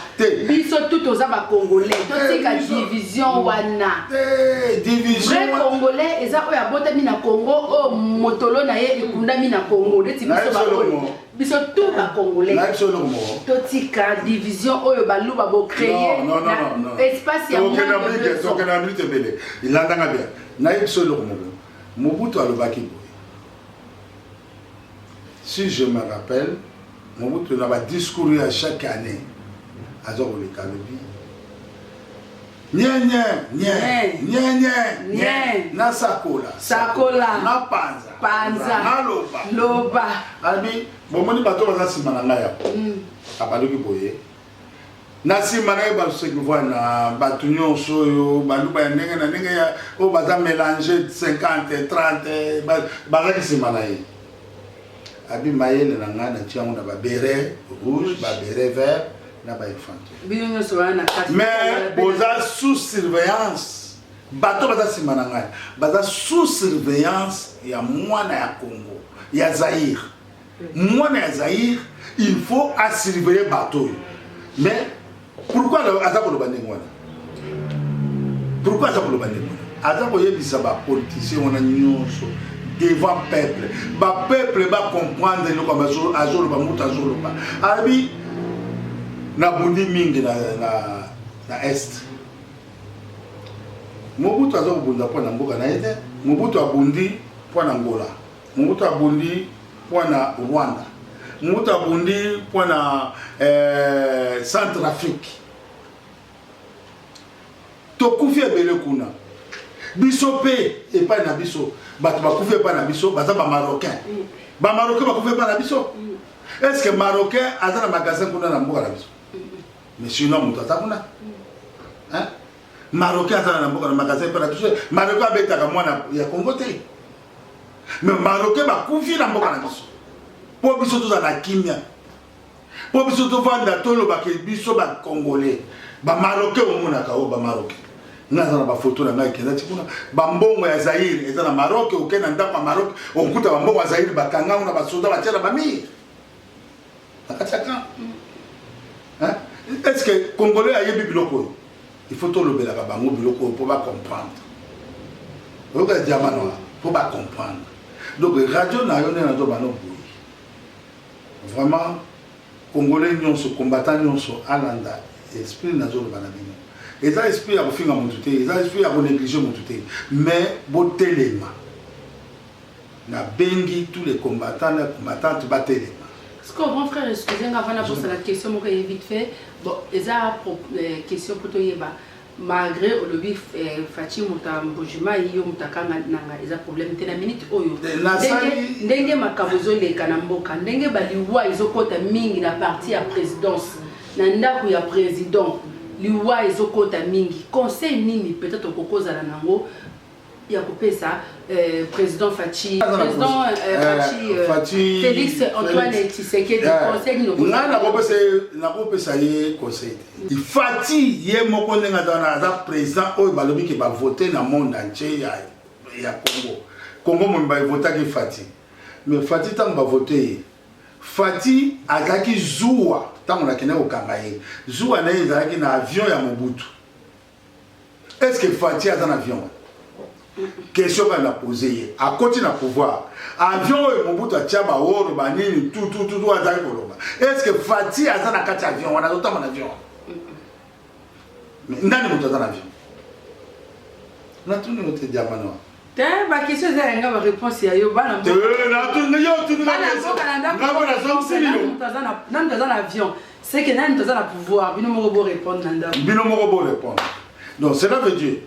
biso tu toza bacongolais totika division wana vrai congolais eza oyo abotami na congo oyo motolo na ye ekundami na congo neti biso baoyo biso tu bacongolais totika division oyo baluba bocreye espace ya ebele nayebi biso eloko moko mobutu alobaki boye si je me rappelle mobutu na ba discours ya chaque année aza koleka alobi nyenye nyenye nyenye nasakola sakola napanza panza naloba loba abi bomoni bato baza nsima na ngai yako mm. abaluki boye Na sima na ye baseki vwana batu nionso oyo baluba ya ndenge na ndenge ya oyo baza melange 50 30 bazaki sima na ye abi mayele na ngai na tiango na ba bere rouge ba bere vert na ba infantry mais boza sous surveillance bato baza nsima na ngai baza sous surveillance ya mwana ya congo ya zaire mwana ya zaire il faut asurveille bato oyo mais pourquoi aza koloba ndenge wana pourquoi aza koloba ndenge wana aza koyebisa bapoliticien wana nyonso devant peuple bapeuple bacomprendre eloko azoloba moto azoloba alobi nabundi mingi na, na, na est mobutu aza kobunda mpo na mboka na ye te mobutu abundi mpo na ngola Mobutu abundi mpo na Rwanda, Mobutu abundi mpo na eh, Centre Afrique. Tokufi ebele kuna, biso mpe epai na biso bato bakufi epai na biso baza bamarocain, bamarocain bakufi epai na biso. Est ce que marocain aza na magasin kuna na mboka na biso? Monsieur na moto aza kuna marocain aza na mboka na magasin epai na biso, marocain abetaka mwana ya Congo te. me baroke bakufi na mboka na biso mpo biso tozala na kimia mpo biso tovanda tolobaka biso bacongolais bamaroke omonaka oyo bamaroke nga aza na bafoto na ngai ekendaki kuna bambongo ya zaire eza na maroc oke na ndako ya maroc okuta bambongo ya zaire bakanga ngo na basoda batya na bamire na kati ya camp est ce que congolais ayebi biloko oyo il faut tolobelaka bango biloko oyo mpo bacomprendre oyoka diama na wana mpo bacomprendre donc radio na yo nde nazo bano boyi vraiment congolais nyonso combattant nyonso alanda esprit nazoloba na bino eza esprit ya kofinga motu te eza esprit ya konéglige motu te mais botelema Na bengi tout les combattants na combattantes ba telema. Sikoyo grand frère excuse nga avant na bosana question moko eye vite fait bon eza question po toyeba malgre olobi Fatshi moto ya Mbuji Mayi yo moto ya Kanga nanga eza problème te na minute oyo ndenge makambo ezoleka na mboka ndenge ba liwa ezokota mingi na parti ya présidence na ndako ya président liwa ezokota mingi conseil nini peut-être okokozala nango ya kopesa euh, président Fatshi président euh, Fatshi, euh, Fatshi Félix Antoine Félix. Tshisekedi yeah. conseil nino nga nakopesa nakopesa ye conseil te mm. Fatshi ye moko ndenge aza na aza président oyo balobi ke ba voter na monde entier ya ya Congo Congo mo ba voter ke Fatshi mais Fatshi tango ba voter ye Fatshi azaki zuwa tango nakenda kokanga ye zuwa na ye ezalaki na avion ya Mobutu est ce que faci aza na avion question kaka na pose ye akoti na pouvoir avion oyo mobutu atya baoro banini tutututu azali koloba est ce que faci aza na kati ya avion wana azotamba na avion nani moto aza na avion natuni yo te diamanoa Te ba question eza yanga ba réponse ya yo bana mboka. Te na tu na yo tu na question. Na ko na zo sili yo. Na mtu azana avion. C'est que nani tozana pouvoir bino moko bo répondre na ndako. Bino moko bo répondre. Donc cela veut dire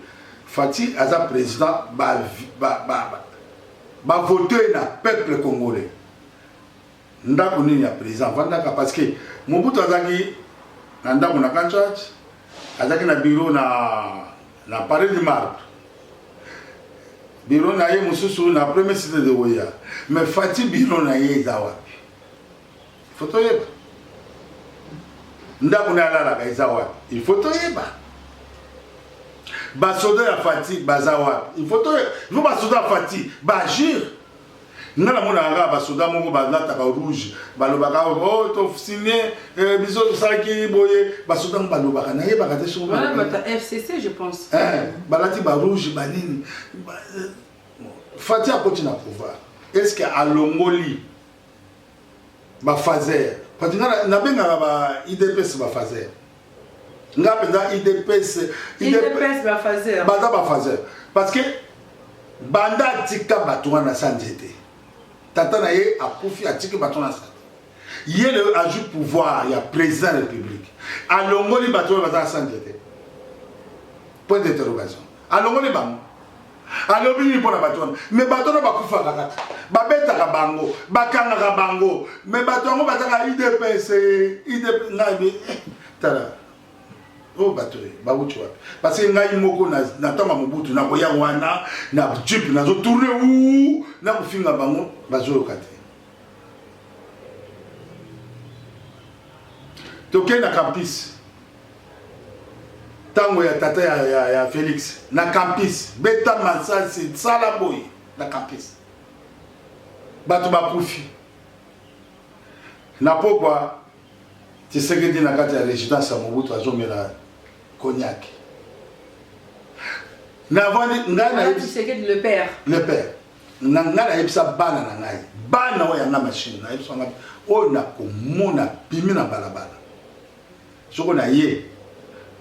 Fatih aza président ba ba ba ba voter na peuple congolais. Ndaku nini ya president avandaka parce que Mobutu azalaki na ndaku na Kanchach, azalaki na bureau na na Palais du Marbre. Bureau na ye mosusu na premier cité de Oya. Mais Fatshi bureau na ye eza wapi? Il faut toyeba. Ndaku na alalaka eza wapi? Il faut toyeba. Basoda ya Fatshi baza wapi? Il faut toyeba. Il faut basoda ya Fatshi ba agir. Nga na monaka kaka ba soda moko ba lataka rouge ba lobaka oh to signe eh, biso tosalaki boye ba soda ngo ba lobaka na yebaka te soki Voilà, bah, t'as FCC, je pense. eh balati ba rouge ba nini Ba- eh, Fatih akoti na pouvoir est-ce que alongoli ba phaser parce que nga na- nabengaka ba IDPS ba phaser nga mpenza idps idps bafazer baza bafazer parce que banda atika bato wana sa nzete tata na ye akufi atiki bato na sa ye le azwi pouvoir ya président ya république alongoli bato oyo baza na sa nzete Point d'interrogation. Alongoli bango. alobi nini mpo na bato wana me bato wana bakufaka kaka babetaka bango bakangaka bango me bato yango bazaka idps idp ngai eh, tala oyo oh, bato eh, bawuti wapi parce ngai moko na ntango ya mobutu nakoya wana na jip nazotourne u na kofinga bango bazoyoka te tokei na campus tango ya tata ya, ya, ya Felix na campus beta masasi sala boye na campus bato bakufi na pokwa Tshisekedi na kati ya residence ya Mobutu azomela cognac navandi ngai na Tshisekedi le père le père na ngai nayebisa bana na ngai bana oyo yanga machine nayebisa ngai oyo nakomona bimi na balabala soko na ye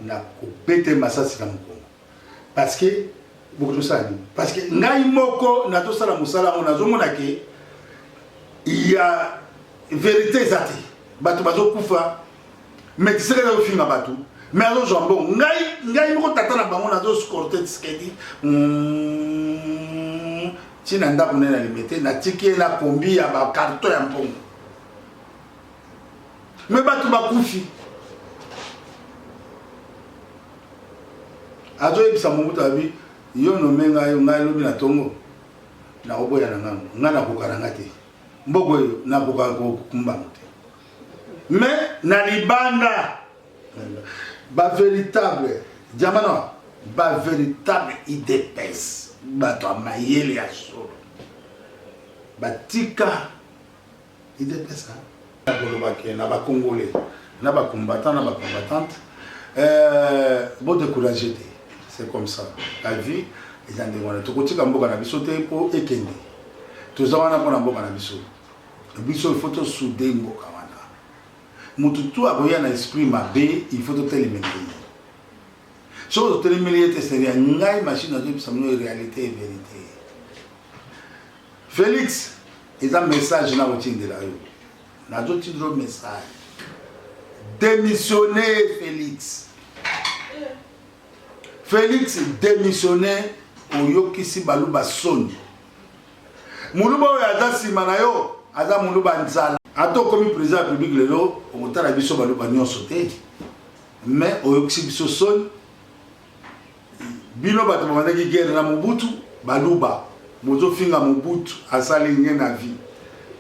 na kobete masasi na mokongo parce que bokoki tosala nini parce que ngai moko nazosala mosala yango nazomona ke ya verité eza te bato bazokufa mais tisekedi azofinga bato mais azozwa mbongo ngai ngai moko tata na bango nazoscorte tisekedi ntina hmm, ndako nene na limete natiki ye na kombi ya bakarto ya mbongo me bato bakufi azoyebisa mobutu abi yo nome ngai ngai lobi na tongo nakoboya na ngango ngai nakoka na ngai te mboko oyo nakoka kokumbango te me na libanda bavéritable jamana bavéritable idps bato ya mayele ya solo batika idps hein? koloba ke na ba congolais na ba combattant na ba combattante euh, bo décourage te c'est comme ça la vie eza ndenge wana tokotika mboka na biso te mpo ekende toza wana mpo na mboka na biso biso il faut tosude mboka wana motu tu akoya na esprit mabe il faut totelemela ye soki totelemeli ye te seria ngai machine azoyebisa mino réalité e vérité Felix eza message na kotindela yo nazo tindelo message démissionner Felix Felix démissionner oyokisi baluba soni muluba oyo aza nsima na yo aza muluba nzala ata okomi président ya publique lelo okotala biso baluba nyonso te mais oyokisi biso soni Bino bato babandaki guerre na Mobutu, baluba bozofinga Mobutu asali rien na vie.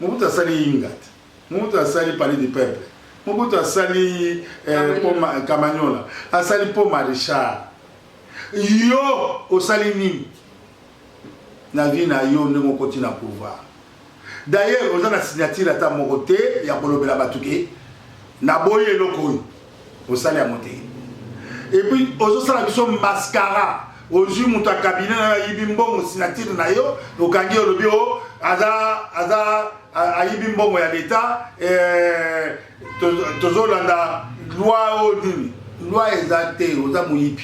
Mobutu asali inga te. Mobutu asali palais du peuple. Mobutu asali eh, poma, Kamanyola, asali po Marechal. Yo osali nini? na vie na yo ndenge okoti na pouvoir d'ailleurs oza na signature ata moko te ya kolobela bato ke naboyi eloko oyo osali yango te epuis ozosala biso mascara ozwi moto ya kabine na yo ayibi mbongo signature na yo okangi olobi o aza aza ayibi mbongo ya leta eh, tozolanda loi oyo nini loi eza te oza moyibi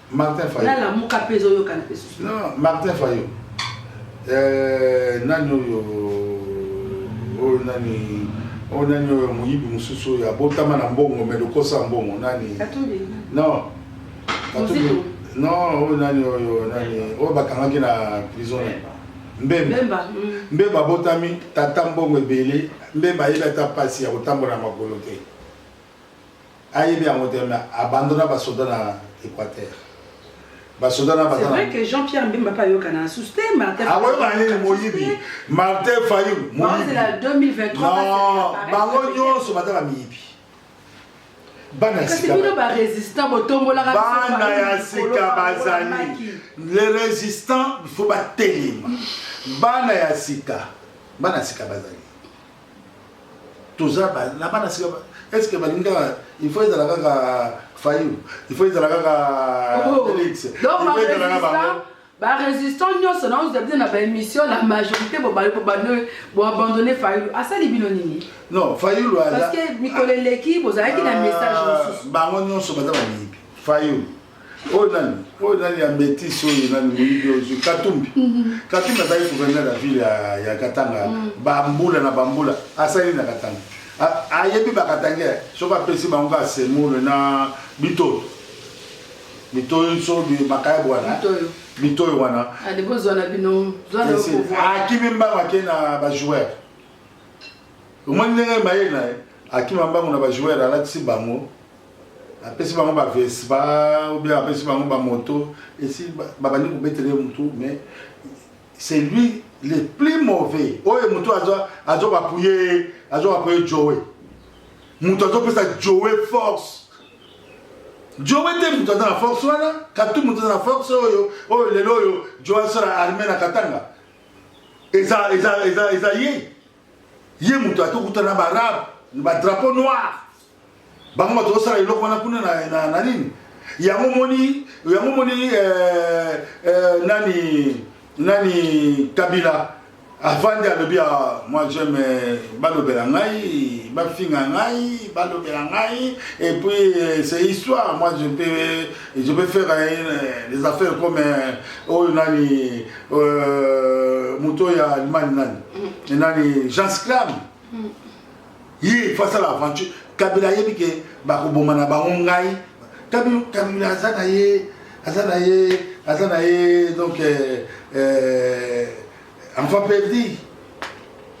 Martin Fayot. Na lamuka pe ezo yoka na pesu. Non, Martin Fayot. Euh, nani oyo oyo nani oyo nani oyo moyibi mosusu oyo abotama na mbongo me lokosa mbongo nani non non oyo nani oyo nani oyo bakangaki na prison mbemba mbemba mm. abotami tata mbongo ebele mbemba ayebi ata mpasi ya kotambola na makolo te Ayebi yango te mais abandona ba soda na Equateur. Ba soda na C'est vrai que Jean Pierre Mbemba pa yoka na sous te Martin. Ah ouais ba nini moyibi. Martin Fayulu moyibi. C'est la 2023. Non, bango nyonso batala miyibi. Bana sika. Kasi bino ba résistant botombola ka bana ya sika bazali. Les résistants il faut ba telema. Bana ya sika. Bana sika bazali. toza ba na bana sika ba- est ce que balingi kaka il faut ezala kaka fayulu il faut ezala kaka Oh. felix il Donc, faut ezala kaka ba-résistant- bango ba-résistant nyonso na oza bino na baémission la majorité bobali bobani boabandonne fayulu asali bino nini non fayulu aza parce que mikolo eleki bozalaki na message Ah, mosusu bango nyonso baza bamiyibi fayulu oyo nani oyo nani ya metise oyo nani moyibi ozwi katumbi mhm. katumbi azali gouverneur ya ville ya katanga mhm. bambula na bambula asali na katanga ayebi bakatange soki apesi bango ka semule na bitoyo bitoyo so makaya bwana bitoyo wana akimi mbango ake na bajoueur Omoni ndenge mayele na ye akima mbangu na ba joueur alatisi bango apesi bango ba vespa ou bien apesi bango ba moto esi babandi kobetele mutu mais c'est lui le plus mauvais oyo mutu azo bapuye azo bapuye joe mutu azopesa joe force joe te mutu aza na force wana katu mutu aza na force oyo oyo lelo oyo joe asala arme na katanga eza eza eza eza ye ye moto ati okuta na baarabe na badrapeau noir bango bato osala eloko wana kuna na nini yango moni yango moni euh, euh, nani nani kabila avandi alobi ah, moi j'aime euh, balobela ngai bafinga ngai balobela ngai et puis euh, c'est histoire moi je peux je peux faire euh, des affaires comme oyo nani Euh, moto oyo ya allemagne nani mm. nani jean sclam mm. ye fo asala aventure kabila ayebi ke bakoboma na bango ngai kabila aza na ye aza na ye aza na ye donc euh, euh, enfant perdi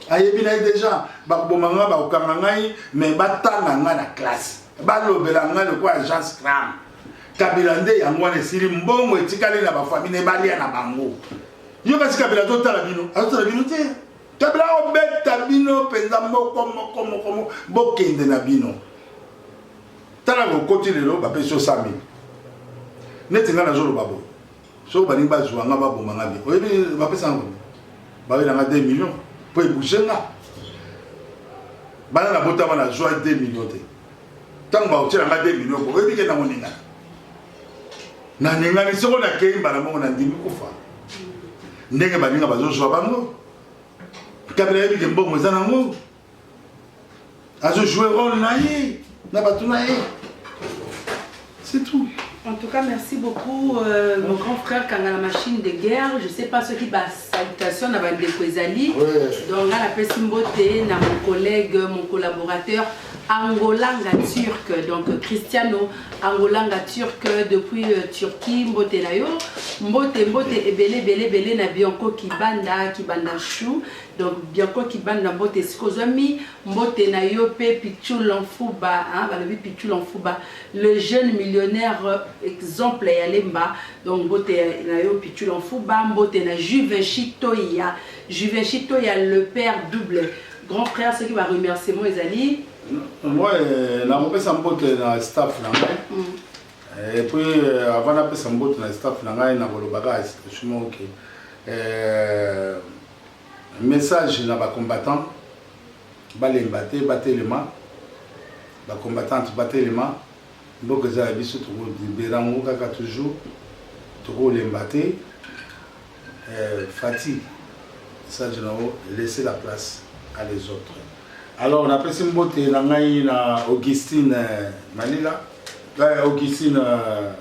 ayebi na ye déjà bakoboma ngai bakokanga ngai mais batanga ngai na classe balobela ngai lokola jean scram Kabila nde yango wana esili mbongo etikali na ba famille ne balia na bango. Yo kasi Kabila to tala bino, azo tala bino te. Kabila obeta bino penza moko moko moko bokende na bino. Tala ko koti lelo ba peso 100000. Neti nga nazo loba bo. So balingi bazwa nga baboma nga bi. Oyebi ba pesa ngo. Ba wela nga 2 millions po ebouger nga. Bana na botama na zwa 2 millions te. ntango bakotyela ngai 2 milio oyebi ke na koningana naningani soko nakei mbala moko nandimi kufa ndenge baninga bazozwa bango kabila yebi ke mbongo eza nango azojoue role na ye na bato na ye C'est tout. En tout cas, merci beaucoup, euh, mon grand frère Kangala Machine de Guerre. Je sais pas ce qui va salutation na bande Kwezali. Donc là, la Pessimbote, na mon collègue, mon collaborateur Angolanga Turc. Donc Cristiano Angolanga Turc depuis euh, Turquie, Mbote na yo. Mbote, Mbote, ebele, bele, bele na Bianco Kibanda, Kibanda Chou. Donc Bianco Kibanda, Mbote, Sikozami, Mbote na yo, pe Pichou Lanfuba, hein, balobi Pichou Lanfuba. Le jeune millionnaire exemple ya lemba donc mbote na yo pitula nfuba mbote na juvenchi toya juvenchi toya le père double grand frère soki ba remerciement ezali moi nakopesa mbote na staff na ngai mm. et puis euh, avant napesa mbote na staff na ngai nakoloba kaka situation moko ke euh, message na bacombattant Balemba te batelema ba combattante batelema mboka eza ya biso toko libera ngo kaka toujours toko lemba te eh, Fatih message na yo laisser la place à les autres alors napesi mbote na ngai na Augustine eh, Malila eh, Augustine eh,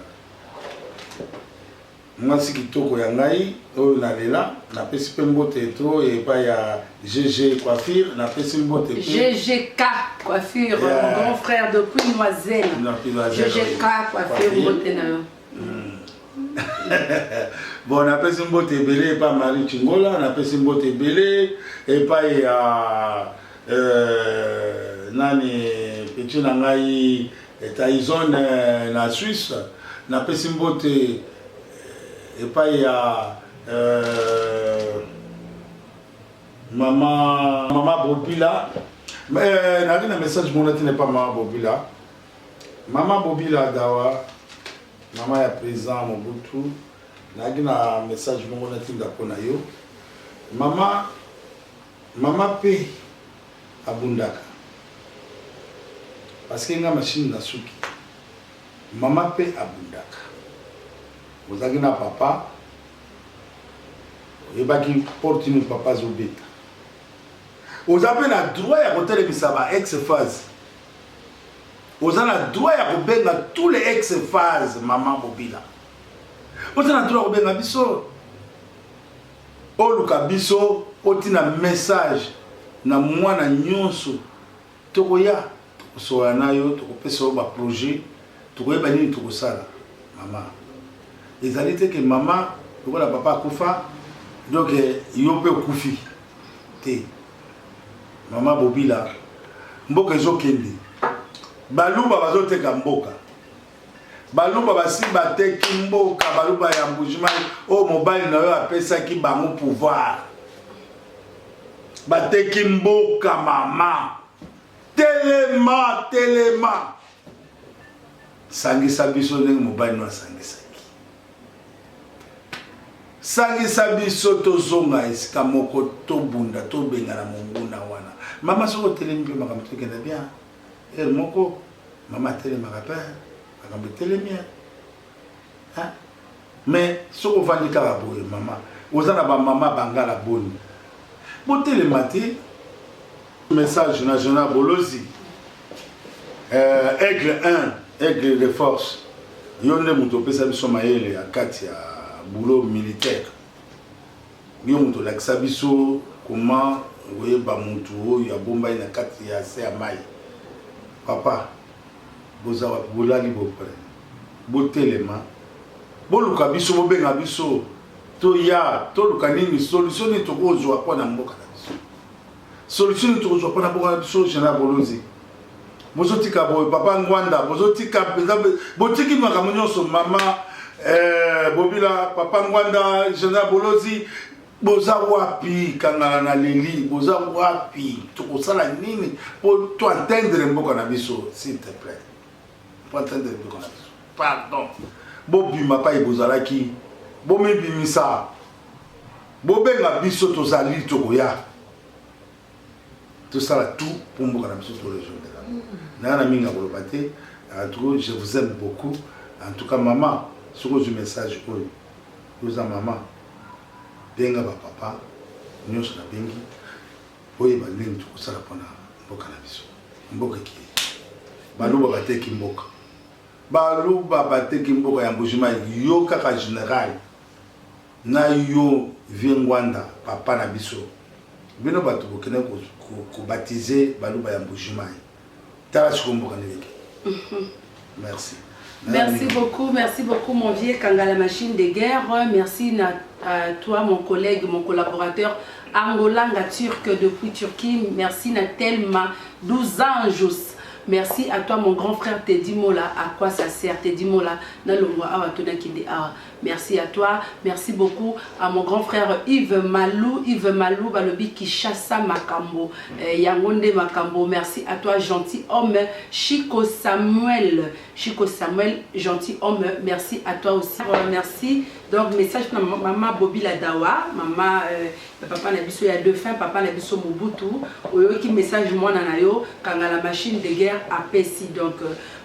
Mwasi kitoko ya ngai oyo na lela na pesi pe mbote to epa ya GG coiffure na pesi mbote pe GGK coiffure yeah. mon grand frère de Queen Noiselle GGK coiffure mbote na yo hmm. bon napesi mbote ebele epa Marie Chingola napesi mbote ebele epa ya euh, nani petit na ngai Taizon na Suisse na pesi mbote epai ya maman Bobila nalaki na message mona tina epai maman Bobila maman Bobila Dawa maman ya president Mobutu nalaki na message moko natinda mpo na yo mama mama pe abundaka parce que nga machine na suki mama pe abundaka ozalaki na papa oyebaki porte nini papa azobeta oza pe na droit ya kotelemisa ba ex phase oza na droit ya kobenga tous les ex phase mama bobila oza na droit ya kobenga biso Oluka biso otina message na muana nionso tokoya tokosolola nayo tokopesa yo ba projet tokoyeba nini tokosala mama ezali te ke mama lokola papa akufa donc yo pe okufi te mama bobila mboka ezokende baluba bazoteka mboka Baluba basi bateki mboka baluba ya mbujimai oyo mobali na yo apesaki bango pouvoir bateki mboka mama telema telema sangisa biso ndenge mobali no asangisaki sangisa biso tozonga esika moko tobunda tobengana monguna wana mama soki otelemi mpe makambo tokenda bien Heure moko mama atelemaka pe makambo etelemi hein mais soki ovandi kaka boye mama oza na bamama bangala boni botelema te message na jona bolozi euh, aigle 1 aigle de force yo nde moto opesa biso mayele ya kati ya boulot militaire Yo moto lakisa biso comment okoyeba mutu oyo abombani na kati ya se ya mayi papa boza wapi bolali bo pren botelema boluka biso bobenga biso toya toluka nini solution nini tokozwa mpo na mboka na biso solution nini tokozwa mpo na mboka na biso general bolozi bozotika boye papa ngwanda bozotika mpenza botiki makambo nyonso mama eh, bobila papa ngwanda jana bolozi boza wapi kangana na leli boza wapi tokosala nini mpo to entendre mboka na biso s'il te plaît mpo entendre mboka na biso pardon bobima pai bozalaki bomibimisa bobenga biso tozali tokoya tosala tout mpo mboka na biso torejoindre yango naya na mingi ya koloba te en tout cas je vous aime beaucoup en tout cas mama soki ozwi message oyo oza mama benga bapapa nyonso nabengi oyeba nini tokosala mpona mboka na biso mboka ekili baluba bateki mboka baluba bateki mboka ya mbujimai yo kaka general Na yo vieux ngwanda papa na biso bino batu bokende ko batiser baluba ya mbuji mayi tala sikoyo mboka ndenge ekende merci. Merci beaucoup, merci beaucoup mon vieux Kanga la machine de guerre. Merci na euh, toi mon collègue, mon collaborateur Angolanga Turc depuis Turquie. Merci na Telma 12 anges. Merci à toi mon grand frère Teddy Mola, à quoi ça sert Teddy Mola na longwa awa tona kinde awa. Merci à toi, merci beaucoup à mon grand frère Yves Malou, Yves Malou balobi Kishasa Makambo, eh, Yangonde Makambo, merci à toi gentil homme, Chico Samuel, Chico Samuel, gentil homme, merci à toi aussi, euh, merci, donc message na maman Bobby Ladawa, maman euh, papa na biso ya défunt, papa na biso Mobutu, oyoki message mwana na yo, kangala machine de guerre apesi, donc euh,